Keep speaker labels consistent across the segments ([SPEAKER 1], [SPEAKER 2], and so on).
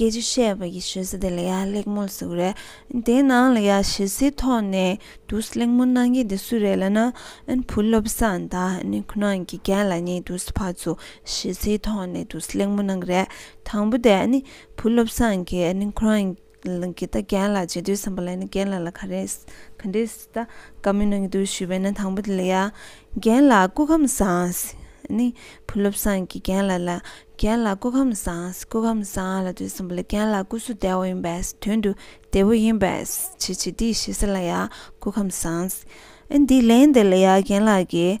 [SPEAKER 1] སྐད་ཅིག་བཤད་པ་ཡི་ཞོལ་ས་དེ་ལ་ཡ་གླེགས་མོ་ལ་ཟུག་རེད། དེའི་ནང་ལ་ཡ་ཞེ་སའི་ཐོག་ནས་དུ་གླེགས་མོ་གནང་མཁན་དེ་སུ་རེད་ལ་ན། བུ་སློབ་བཟང་དང་ཁོ་ན་དགེ་རྒན་ལ་གཉིས་དུ་ཕར་ཚུར་ཞེ་སའི་ཐོག་ནས་དུ་གླེགས་མོ་གནང་རེད། དང་པོ་དེ་བུ་སློབ་བཟང་གིས་ཁོ་རང་གི་ད་རྒན་ལ་བྱེད་དུས་བསམ་པ་ལ་རྒན་ལ་ལ་ག་རེ་ག་འདྲེ། ད་ག་མི་གནང་གི་འདུག་ཞུས་པས་ན་དང་པོ་དེ་ལ་ཡ། རྒན་ལགས་སྐུ་ཁམས་བཟང། ནི། བུ་སློབ་སངས་ཀྱིས་རྒན་ལགས་ལ། རྒན་ལགས་སྐུ་ཁམས་བཟང། སྐུ་ཁམས་བཟང་ལ་དུས་གསུམ་པོ་ལ་རྒན་ལགས་སྐུ་གཟུགས་བདེ་བོ་ཡིན་པས་དོན་དུ་བདེ་བོ་ཡིན་པས་བྱེད་བྱེད་དེ་ཞེས་ས་ལ་ཡ། སྐུ་ཁམས་བཟང། ཨེ་འདི་ལན་དེ་ལ་ཡ་རྒན་ལགས་ཀྱིས།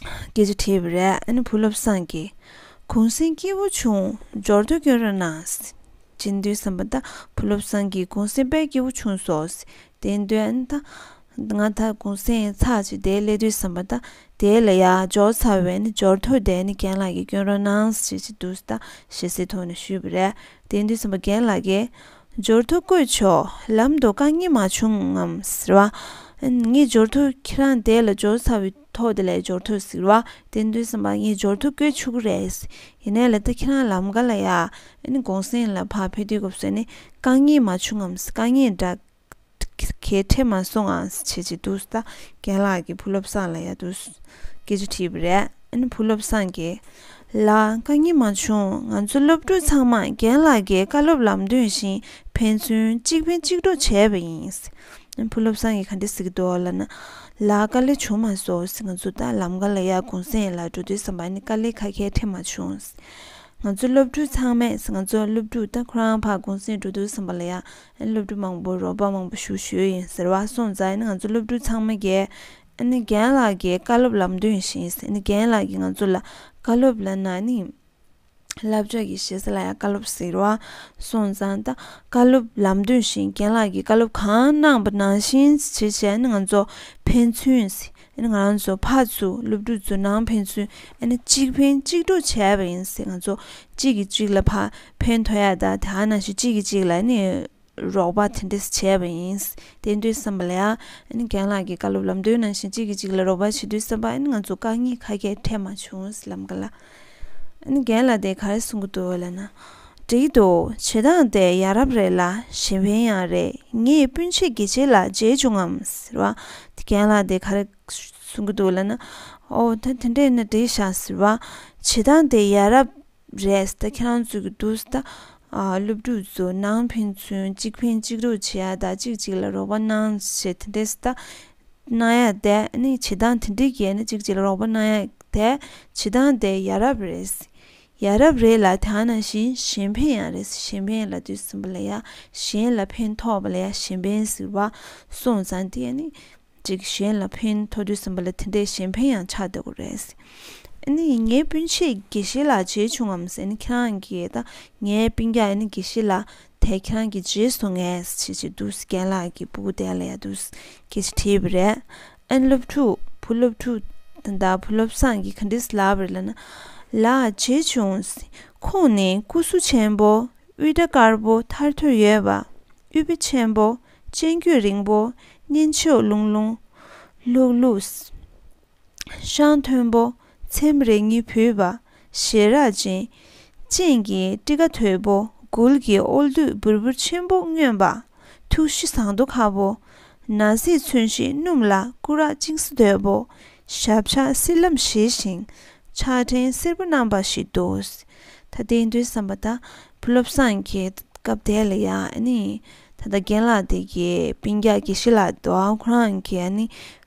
[SPEAKER 1] སྐད་ཆ་དྲིས་པ་རེད་ཨ་ནེ་བུ་བློ་བཟང་གིས། གུང་གསེང་སྐྱིད་པོ་བྱུང་འབྱོར་དུས་སྐྱོན་རང་ནང། བྱིན་དུས་བསམ་པ་ད་བུ་བློ་བཟང་གིས་གུང་གསེང་དཔལ་སྐྱིད་པོ་བྱུང་སོགས་བདེན་དོན་ད། ང་ད་གུང་གསེང་ཚགས་ཅིག་བསྡད་སླེ་དུས་བསམ་པ་ད་དེའི་ལ་ཡག་འབྱོར་ཚར་བས་ནི་འབྱོར་ཐོ་བསྡད་ནི་རྒན་ལགས་ཀྱིས་སྐྱོན་རང་ནང་བྱེད་ཀྱི་འདུག་ད་ཞེ་སའི་ཐོག་ནས་ཞུས་པ་རེད་བདེན་དུས་བསམ་པ་རྒན་ལགས་ཀྱིས། འབྱོར་དུ་བཀོད་ཆོག་ལམ་དུ་རྐང་གཉིས་མ་བྱུང་ངམ་ཟེར་བ། ངས་འབྱོར་དུ་ཁྱེད་རང་དེ་ལ་འབྱོར་ཚར་བའི་ཐོག་དེ་ལས་འབྱོར་དུ་ཟེར་བ། དེ་འདོད་བསམ་པ་ངས་འབྱོར་དུ་བཀོད་ཆོག་གི་རེད། ཡིན་ནའི་ལ་ད་ཁྱེད་རང་ལམ་ག་ལ་ཡ། གུང་སེང་ལ་ཕར་ཕེབས་དུས་སྐབས་སུ་ནི་རྐང་གཉིས་མ་བྱུང་ངམ་རྐང་གཉིས་འདྲ། གལ་ཁྲེལ་མ་སོང་ངང་བྱེད་ཅེས་འདུག་ད་རྒན་ལགས་ཀྱིས་བུ་སློབ་བཟང་ལ་ཡག་སྡུག་སྐད་ཆ་དྲིས་པ་རེད་ཨ་བུ་སློབ་བཟང་གིས། ལགས་དཀའ་ངལ་མ་བྱུང་ང་ཚོ་སློབ་ཕྲུག་ཚང་མ་རྒན་ལགས་ཀྱི་བཀའ་སློབ་ལམ་སྟོན་བཞིན་ཕན་ཚུན་གཅིག་ཕན་གཅིག་གྲོགས་བྱས་པ་ཡིན། ཨ་བུ་སློབ་བཟང་གིས་ག་འདྲ་ཟེར་གི་འདུག་ལ་ན། ལགས་དཀའ་ལས་བྱུང་མ་སོང་ང་ཚོ་ད་ལམ་ག་ལ་ཡག་གུང་སེང་ལ་འགྲོ་འདོད་བསམ་པ་ནི་དཀའ་ལས་ཁ་ཁལ་ཁྲེལ་མ་བྱུང། ང་ཚོ་སློབ་ཕྲུག་ཚང་མས་ང་ཚོ་སློབ་ཕྲུག་ད་ཁོ་རང་ཕ་གུང་སེང་འགྲོ་འདོད་བསམ་པ་ལ་ཡག་སློབ་ཕྲུག་མང་པོ་རོགས་པ་མང་པོ་ཞུ་ཞུས་ཡིན་ཟེར་བ་སོང་ཙང་ང་ཚོ་སློབ་ཕྲུག་ཚང་མ་རྒན་རྒན་ལགས་ཀྱི་བཀའ་སློབ་ལམ་སྟོན་བྱས་ཟིན་རྒན་ལགས་ཀྱིས་ང་ཚོ་ལ་བཀའ་སློབ་ལ་ན་ནིང་སླབ་ཕྱོགས་ཀྱི་ཞེ་ས་ལ་ཡང་བཀའ་སློབ་ཟེར་བ་སོང་ཙང་ད་བཀའ་སློབ་ལམ་སྟོན་བྱས་རྒན་ལགས་ཀྱིས་བཀའ་སློབ་གང་གནང་བ་ནང་བཞིན་བྱས་བྱས་ང་ཚོ་ཕན་ཚུན་ཨ་ནི་ང་རང་ཚོ་ཕར་ཚུར་སློབ་ཕྲུག་ཚོ་ནང་ཕན་ཚུན་ཨ་ནི་གཅིག་ཕན་གཅིག་གྲོགས་བྱས་པ་ཡིན་ཟེར་ང་ཚོ་གཅིག་གིས་གཅིག་ལ་ཕ་ཕན་ཐོགས་ཡ་དང་དེ་ཨ་ན་ཞིག་གཅིག་གིས་གཅིག་ལ་ཨ་ནི་རོགས་པ་དེ་འདྲས་བྱས་པ་ཡིན་དེ་འདྲའི་བསམ་པ་ལ་ཨ་ནི་རྒན་ལགས་ཀྱི་བཀའ་སློབ་ལམ་སྟོན་ནང་བཞིན་གཅིག་གིས་གཅིག་ལ་རོགས་པ་བྱེད་དུས་བསམ་པ་ཨ་ནི་ང་ཚོ་དཀའ་ངལ་ཁ་གས་འཕྲད་མ་བྱུང་ལམ་ག་ལ་རྒན་ལ་དེ་ག་རེ་གསུང་གི་འདུག་འོ་ལ་ན། འགྲིག་གི་འདུག་བྱེད་སྟངས་དེ་ཡ་རབས་རེད་ལ་གཞན་ཕན་ཡང་རེད་ངས་སྤུན་མཆེད་དགེ་ཆེ་ལ་མཇལ་བྱུང་ངམ་ཟེར་བ། རྒན་ལ་དེ་ག་རེ་གསུང་གི་འདུག་ལ་ན། ཨོ་ད་དེ་འདྲས་ན་འགྲིག་ཤག་ཟེར་བ། བྱེད་སྟངས་དེ་ཡ་རབས་རེད་ཟེར་ད་ཁྱེད་རང་ཚོས་ཀྱི་འདུག་ཟེར་ད། སློབ་ཕྲུག་ཚོས་ནང་ཕན་ཚུན་གཅིག་ཕན་གཅིག་རོགས་བྱེད་ཡ་ད་གཅིག་གཅིག་ལ་རོགས་པ་གནང་ཞེས་དེ་འདྲས་ཟེར་ད། གནང་ཡ་དེ་ནི་བྱེད་སྟངས་དེ་འདྲའི་གྱི་ནི་གཅིག་བྱེད་རོགས་པ་གནང་ཡ་དེ་བྱེད་སྟངས་དེ་ཡ་རབས་རེད། ཡ་རབས་རེད་ལ་དེ་ནང་བཞིན་གཞན་ཕན་ཡང་རེད་གཞན་ཕན་ལ་དུས་གསུམ་པ་ལ་ཡ་གཞན་ལ་ཕན་ཐོགས་པ་ལ་ཡ་གཞན་ཕན་ཟེར་བ་སོང་ཙང་དེ་ནི་གཅིག་གཞན་ལ་ཕན་ཐོགས་དུས་གསུམ་པ་ལ་དེ་འདྲའི་གཞན་ཕན་ཡང་ཆགས་སྡོད་དགོས་རེད། ཨ་ནི་ངའི་སྤུན་མཆེད་དགེ་བཤེས་ལགས་བྱས་བྱུང་ངམ་ཟེར་ནི་ཁྱེད་རང་གིས་ད་ངའི་སྤུན་རྒྱག་ཨ་ནི་དགེ་བཤེས་ལགས་དེ་གྱོན་གྱི་རྗེས་སུ་ངས་བྱེད་ཀྱི་འདུག་རྒན་ལགས་ཀྱི་སྤུ་གུ་དེ་ལས་འདུག་ཁྱེད་ཀྱིས་བྲིས་པ་རེད། ཨན་སློབ་ཕྲུག་བུ་སློབ་ཕྲུག་དེ་འདྲ་བུ་སློབ་སངས་ཀྱིས་ག་འདྲི་ཟ་ལབ་རེད་ལབ་ན་ལ་བྱེད་བྱུང། ཁོང་ནི་སྐུ་གཟུགས་ཆེན་པོ་དབུས་སྐྲ་དཀར་པོ་ཐར་ཐོར་ཡོད་པ་དབུས་བེ་ཆེན་པོ་སྤྱན་དཀྱུས་རིང་པོ་གཉན་ཆུ་ལྷུང་ལྷུང་ལྷུག་ལྷུག། ཤངས་མཐོན་པོ་ཚེམས་རེ་གཉིས་བུས་པ་ཞལ་རག་ཅན། སྤྱན་གྱི་སྤྲི་ཁ་དོད་པོ་མགུལ་གྱི་ཨོལ་བདུད་བུར་བུར་ཆེན་པོ་སྨྱོན་པ། ཐུགས་གཞི་ཟངས་རྡོ་ཁ་བོ། ན་བཟས་མཚོན་བཞི་སྣུམ་ལ་སྐུ་རགས་གཅིག་སྲི་དོད་པོ། ཞབས་ཕྱག་སྲིད་ལམ་བཞི་ཞིང་ཕྱག་ཕྲེང་སེར་པོ་བསྣམས་པ་ཞིག་འདུག། ད་ལྟའི་མདོའི་བསམ་པ་དང་བུ་སློབ་སངས་རྒྱས་སྐབས་དེ་ལ་ཡང་ད་ལྟ་རྒན་ལགས་དེ་གའི་པིང་རྒྱ་ཀྱི་ཤི་ལ་དོ་ཁོ་རང་གི་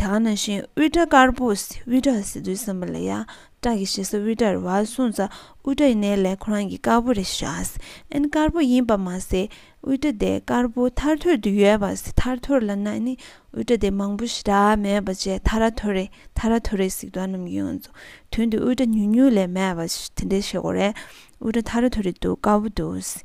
[SPEAKER 1] དེ་ག་ན་བཞིན་དབུས་སྐྲ་དཀར་པོ་དབུས་སྐྲ་ཟེར་དུས་སེམས་པ་ལ་ཡ་སྐྲ་གི་ཞེ་ས་དབུས་སྐྲ་རེད་བ་སུང་ཙ་དབུས་སྐྲ་ཡིན་ནའི་ལས་ཁོ་རང་གི་དཀར་པོ་རེད་ཤག་ཨན་དཀར་པོ་ཡིན་པ་མ་ཟད་དབུས་སྐྲ་དེ་དཀར་པོ་ཐར་ཐོར་དུ་ཡོད་པ་ཟེར་ཐར་ཐོར་ལ་ན་ནི་དབུས་སྐྲ་དེ་མང་པོ་ཞེ་དྲག་མེད་པ་བཅས་ཐ་ར་ཐོར་རེད་ཐ་ར་ཐོར་རེད་ཟིག་དོ་རྣམས་ཡོད་ང་ཚོ་དོན་དུ་དབུས་སྐྲ་ཉུང་ཉུང་ལས་མེད་པ་དེ་འདྲའི་བྱེད་སྒོ་རེད་དབུས་སྐྲ་ཐ་ར་ཐོར་རེད་འདུག་དཀར་པོ་འདུག་ཟེར།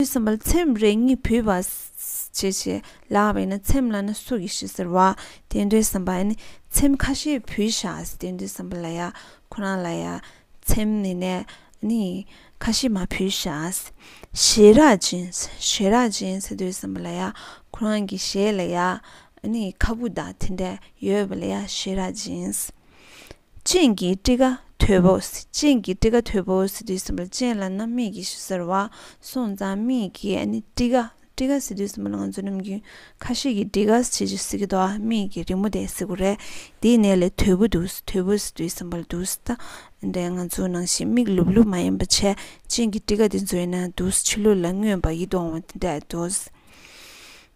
[SPEAKER 1] ཞེས་སམ་བར་ཚེམས་རེ་གཉིས་བུས་པ། ཞེས་བྱས་ལ་བས་ན་ཚེམས་ལ་ན་སུག་གི་ཞེས་ཟེར་བ། དེ་འདྲའི་སམ་བར་ནི་ཚེམས་ཁ་ཤས་བུས་ཤག་དེ་འདྲའི་སམ་བར་ལ་ཡ་ཁོ་རང་ལ་ཡ་ཚེམས་ནི་ནས་ནི་ཁ་ཤས་མ་བུས་ཤག། ཞེས་རག་ཅིང་ཞེས་རག་ཅིང་ཟེར་དུས་སམ་བར་ལ་ཡ་ཁོ་རང་གི་ཞེས་ལ་ཡ་ནི་ཁ་བུ་དག་དེ་འདྲ་ཡོད་པ་ལ་ཡ་ཞེས་རག་ཅིང། སྤྱན་གྱི་སྤྲི་ཁ་དོད་པོ། སྤྱན་གྱི་སྤྲི་ཁ་དོད་པོ། ཟི་དུས་སྲིན་པོ་ལ་སྤྱན་ལ་རྣམ་སྨིན་གྱི་ཞེས་ཟེར་བ། སོང་ཙང་སྨིན་གྱི་སྤྲི་ཁ། སྤྲི་ཁ་ཟི་དུས་སྲིན་པོ་ལ་ང་ཚོས་ནམ་རྒྱུན་ཁ་ཤས་ཀྱིས་སྤྲི་ཁ་ཟེར་གྱི་ཟེར་གི་འདུག་ཨ་སྨིན་གྱི་རི་མོ་དེ་གཟིགས་པོ་རེད། འདིའི་ནད་ལས་དོད་པོ་འདུག་དོད་པོ་ཟི་དུས་སྲིན་པོ་ལ་འདུག་ད་ལྟ་ང་ཚོ་ནང་བཞིན་མིག་ལུབ་ལུབ་མ་ཡིན་པ་བྱས་སྤྱན་གྱི་སྤྲི་ཁ་དེ་འཛུལ་ན་འདུག་ཕྱི་ལུས་ལ་མངོན་པར་ཡིད་དུ་འོང་བ་དེ་འདྲ་འདུག།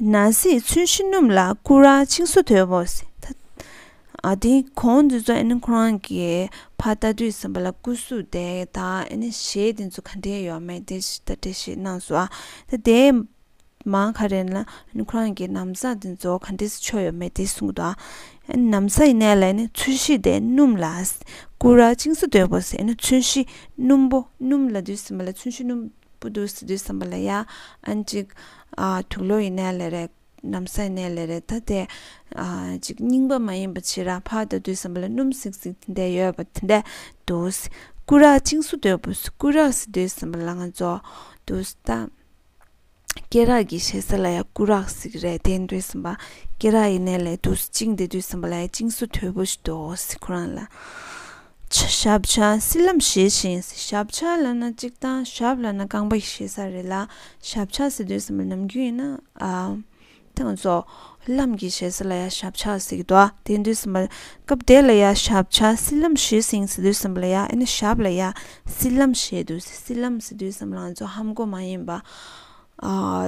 [SPEAKER 1] ན་བཟས་ཚུལ་ཤིང་སྣུམ་ལ་བསྐུ་ར་ཆིངས་སོ་དོད་པོ། དེ་གོང་དེ་ཚོ་ཁོ་རང་གི་ཕ་རྟ་དུས་ཟིན་པ་ལ་བསྐུ་གཟུགས་བདེ་དང་གཞས་དེ་ཚོ་ག་འདྲའི་ཡོད་མེད་དེ་ལྟ་དེ་བཞིན་གནང་སོང་ཨ། དེ་མང་ཁ་རེ་ན་ཁོ་རང་གི་ནམ་ཟས་དེ་ཚོ་ག་འདྲའི་ཆོ་ཡོད་མེད་དེ་གསུངས་འདུག་ཨ། ནམ་ཟས་ཡིན་ན་ལ་ཚུལ་ཤིང་དེ་སྣུམ་ལ་བསྐུ་ར་ཆིངས་སོ་དོད་པོ། ཚུལ་ཤིང་སྣུམ་པོ་སྣུམ་ལ་དུས་ཟིན་པ་ལ་ཚུལ་ཤིང་སྣུམ། པོ་འདུག་སྲིད་དུས་བསམ་པ་ལ་ཡ་ཨན་གཅིག། དུག་ལོ་ཡི་ནད་ལས་རེད། གནམ་ས་ཡི་ནད་ལས་རེད་ད་དེ། གཅིག་རྙིང་པ་མ་ཡིན་པ་ཕྱི་ར་ཕ་ད་དུས་བསམ་པ་ལ་སྣུམ་སིག་སིག་དེ་འད་ཡོད་པ་དེ་འད་འདུག། སྐུ་རགས་བཅིངས་སུ་འདོད་པོ་སྐུ་རགས་སྲིད་དུས་བསམ་པ་ལ་ང་ཚོ། འདུག་ད། སྐེ་རགས་ཀྱི་བཤད་ས་ལ་ཡ་སྐུ་རགས་སིག་རེད་དེ་འདུས་བསམ་པ། སྐེ་རགས་ཡི་ནད་ལས་འདུག་བཅིངས་དེ་དུས་བསམ་པ་ལ་ཡ་བཅིངས་སུ་དོད་པོ་ཞིག་འདུག་ཁོ་རང་ལ། ཞབས་བྱ་སྲིད་ལམ་ཞེས་བྱའིན། ཞབས་བྱ་ལ་ན་གཅིག་དང་ཞབས་ལ་ན་རྐང་པ་ཞེས་ས་རེད་ལ། ཞབས་བྱ་ཟེར་དུས་སམ་ལ་ནམ་རྒྱུན་ཡིན་ན། ཐང་སོ། ལམ་གྱི་ཞེས་ས་ལ་ཡང་ཞབས་བྱ་ཟིག་ཏོ། དེ་དུས་སམ། སྐབས་དེ་ལ་ཡང་ཞབས་བྱ་སྲིད་ལམ་ཞེས་བྱའིན་ཟེར་དུས་སམ་ལ་ཡང་ཨེ་ན་ཞབས་ལ་ཡང་སྲིད་ལམ་ཞེས་དུས་སི་སྲིད་ལམ་ཟེར་དུས་སམ་ལ་ང་ཚོ་ཧམ་སྒོ་མ་ཡིན་པ།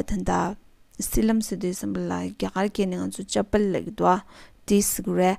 [SPEAKER 1] ད་ལྟ། སྲིད་ལམ་ཟེར་དུས་སམ་ལ་རྒྱ་གར་སྐད་ནས་ང་ཚོ་ལྕགས་པལ་ལེགས་ཏོ། དེ་ཟིག་རེད།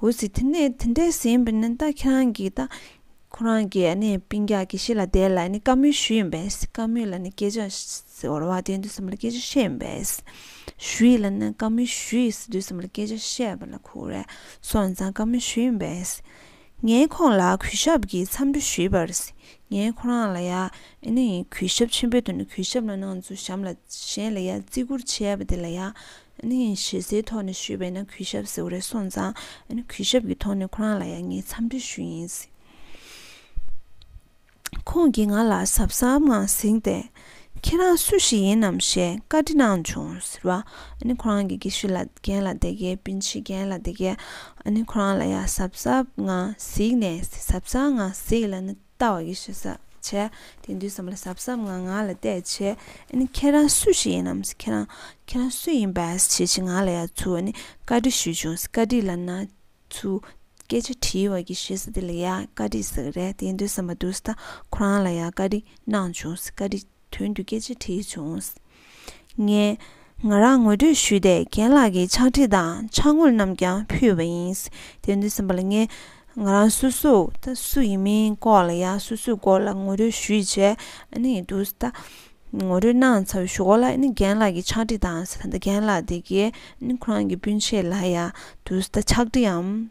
[SPEAKER 1] འོད་ཟེར་དེ་ནས་དེ་འདྲའི་ཟིན་པས་ནི་ད་ཁྱེད་རང་གིས་ད་ཁོ་རང་གི་ནི་པིང་རྒྱག་གི་ཤི་ལ་བསྡད་ལ་ནི་བཀའ་མོལ་ཞུ་ཡིན་པས་བཀའ་མོལ་ལ་ནི་སྐད་ཆ་ཟེར་བ་དེ་དུས་གསུམ་ལ་སྐད་ཆ་བཤད་ཡིན་པས་ཞུ་ཡིན་ལ་ནི་བཀའ་མོལ་ཞུ་ཡིས་དུས་གསུམ་ལ་སྐད་ཆ་བཤད་པ་ལ་ཁུག་རེ་སོང་ནས་ཙང་བཀའ་མོལ་ཞུ་ཡིན་པས་ངས་ཁོང་ལ་གུས་ཞབས་ཀྱིས་འཚམས་འདྲི་ཞུས་པར་ངས་ཁོ་རང་ལ་ཡང་ནི་གུས་ཞབས་ཆེན་པོའི་དོན་དུ་གུས་ཞབས་ལ་གནང་ཚུལ་གཞམ་ལ་གཞན་ལ་ཡང་བརྩི་བཀུར་བྱས་པ་དེ་ལ་ཡང། ནི་ཡིན་ཞེས་སའི་ཐོག་ནས་ཞུས་པས་ན་གུས་ཞབས་ཟེར་བ་རེད་སོང་ཙང་ནི་གུས་ཞབས་ཀྱི་ཐོག་ནས་ཁོ་རང་ལ་ཡང་ངས་འཚམས་འདྲི་ཞུས་ཡིན། ཁོང་གིས་ང་ལ་གཟབ་གཟབ་ངང་གཟིགས་ཏེ། ཁྱེད་རང་སུ་ཞིག་ཡིན་ནམ་ཞེས་བཀའ་འདྲི་གནང་བྱུང་ཟེར་བ། ཁོ་རང་གིས་དགེ་བཤེས་ལ་རྒན་ལ་དེ་གའི་སྤུན་མཆེད་རྒན་ལ་དེ་གའི། ཁོ་རང་ལ་ཡང་གཟབ་གཟབ་ངང་གཟིགས་ནས་གཟབ་གཟབ་ངང་གཟིགས་ལ་ནི། ལྟ་བ་ཡིས་ཞེས་ཟབ་བྱས། དེ་འདུས་བསམ་ལ་ཟབ་ཟབ་ངང་ང་ལ་གཏད་བྱས། ཨཱ་ཁྱེད་རང་སུ་ཞིག་ཡིན་ནམ་ཁྱེད་རང་ཁྱེད་རང་སུ་ཡིན་པས་བྱས་ཅི་ང་ལ་ཡ་ཚུ་བ་ནི་བཀའ་དྲི་ཞུས་བྱུང་བཀའ་དྲི་ལ་ན་ཚུ་སྐད་ཆ་དྲིས་བ་གྱིས་ཞེས་ཟེར་དེ་ལ་ཡ་བཀའ་དྲི་ཟེར་གི་རེད་དེ་འདུས་བསམ་པ་འདུས་ཟ་ཁོ་རང་ལ་ཡ་བཀའ་དྲི་གནང་བྱུང་བཀའ་དྲི། དོན་དུ་སྐད་ཆ་དྲིས་བྱུང། ངས་ང་རང་ངོ་སྤྲོད་ཞུས་ཏེ་རྒན་ལགས་ཀྱི་ཕྱག་བྲིས་དང་ཕྱག་དངུལ་རྣམས་ཀྱང་ཕུལ་བ་ཡིན། དེ་དུས་སེམས་པ་ལ་ངས་ང་རང་སུ་སུ་ད་སུ་ཡིན་མིན་སྐོར་ལ་ཡང་སུ་སུའི་སྐོར་ལ་ངོ་སྤྲོད་ཞུས་བྱས་ནས་འདུག་ད་ངོ་སྤྲོད་གནང་ཚར་བའི་ཞོར་ལ་རྒན་ལགས་ཀྱི་ཕྱག་བྲིས་དང་ད་རྒན་ལགས་དེ་གའི་ཁོ་རང་གི་སྤུན་མཆེད་ལ་ཡང་འདུག་ད་ཕྱག་བྲིས་འམ།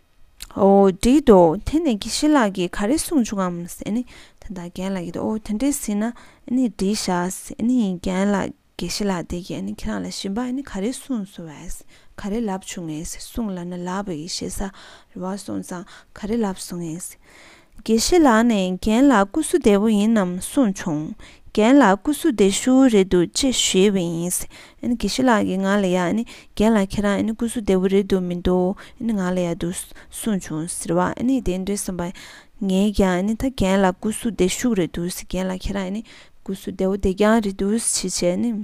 [SPEAKER 1] བྲིས་འདུག་དེ་ནས་ཀི་ཤི་ལགས་ཀྱིས་ག་རེ་གསུངས་བྱུང་ངམ། དེ་དང་རྒན་ལགས་ཀྱིས་འོ་དེ་འདྲའི་ཟིན་ན་བྲིས་བཞག་རྒན་ལགས་ཀི་ཤི་ལགས་དེ་ཀྱིས་ཁྱེད་རང་ལ་ཞིབ་འབའ་ག་རེ་གསུངས་སོང་བ། ག་རེ་ལབ་བྱུང་ངས་གསུངས་ལབ་ན་ལབ་བས་ཞེ་ས་རེ་བ་སོང་ཙང་ག་རེ་ལབ་སོང་ངས། དགེ་བཤེས་ལགས་ནས་རྒན་ལགས་སྐུ་གཟུགས་བདེ་བོ་ཡིན་ནམ་གསུངས་བྱུང། རྒན་ལགས་སྐུ་གཟུགས་བདེ་ཤུ་བོ་རེད་འདུག་ཅེས་ཞུས་པ་ཡིན། དགེ་བཤེས་ལགས་ཀྱིས་ང་ལ་ཡ། རྒན་ལགས་ཁྱེད་རང་སྐུ་གཟུགས་བདེ་བོ་རེད་འདུག་མི་འདུག་ང་ལ་ཡ་འདུག་གསུངས་བྱུང་ཟེར་བ་དེ་འདྲའི་སེམས་པ། ངས་ཀྱང་ད་རྒན་ལགས་སྐུ་གཟུགས་བདེ་ཤུགས་རེད་འདུག་རྒན་ལགས་ཁྱེད་རང་སྐུ་གཟུགས་བདེ་བོ་བདེ་རྐྱང་རེད་འདུག་ཅེས་བྱས།